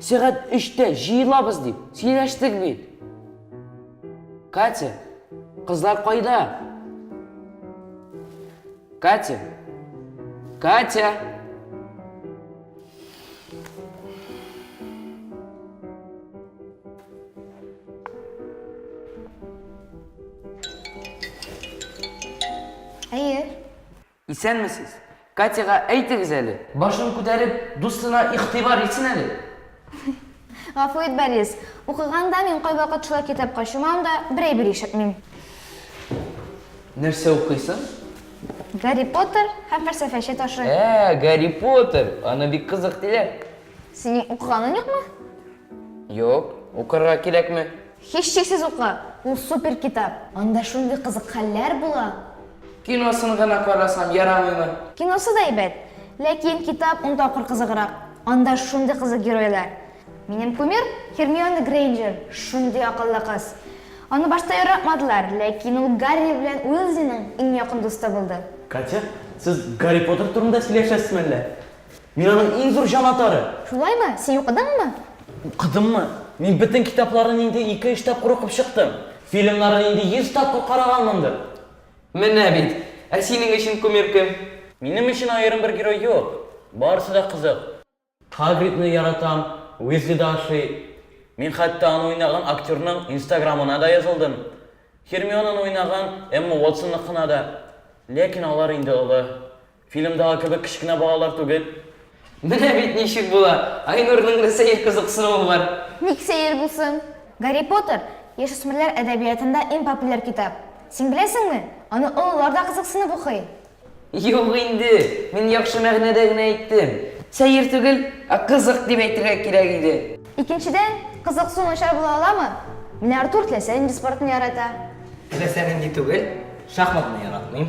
Сәгать өчтә җыелабыз дип сөйләштек бит. Катя, кызлар кайда? Катя, Катя. Әйе. Исәнмесез! Катяга әйтегез әле, башын күтәреп, дустына игътибар итсен әле! Гафу ит, Борис. Укыганда мин кайвакыт шулай китапка чумам да, бер әйбер ишетмим. Нәрсә укыйсың? Гарри Поттер һәм фәлсәфәче ташы. Ә, Гарри Поттер! Аны бик кызык диләр. Синең укыганың юкмы? Юк, укырга кирәкме? Һичшиксез укы, ул супер китап. Анда шундый кызык хәлләр була. Киносын гына карасам, ярамыймы? Киносы да әйбәт, ләкин китап ун тапкыр кызыграк. Анда шундый кызык геройлар. Минем кумир, Һермиона Грейнджер, шундый акыллы кыз. Аны башта яратмадылар, ләкин ул Гарри белән Уизлиның иң якын дусты булды. Катя, сез Гарри Поттер турында сөйләшәсезме әллә? Мин аның иң зур җанатары! Шулаймы? Син укыдыңмы? Укыдыммы? Мин бөтен китапларын инде ике-өч тапкыр укып чыктым. Фильмнарын инде йөз тапкыр караганмындыр. Менә бит! Ә синең өчен кумир кем? Минем өчен аерым бер герой юк. Барысы да кызык. Хагридны яратам, Уизли да ошый. Мин хәтта аны уйнаган актерның инстаграмына да язылдым. Һермионаны уйнаган Эмма Уотсонныкына да. Ләкин алар инде олы. Фильмдагы кебек кечкенә балалар түгел. Менә бит ничек була! Айнурның да сәер кызыксынуы бар. Ник сәер булсын? Гарри Поттер, яшүсмерләр әдәбиятында иң популяр китап. Син беләсеңме? Аны олылар да кызыксынып укый. Юк инде, мин яхшы мәгънәдә генә әйттем. Сәер түгел, ә кызык дип әйтергә кирәк иде. Икенчедән, кызык су начар була аламы? Менә Артур теләсә нинди спортны ярата. Теләсә нинди түгел, шахматны яратмыйм.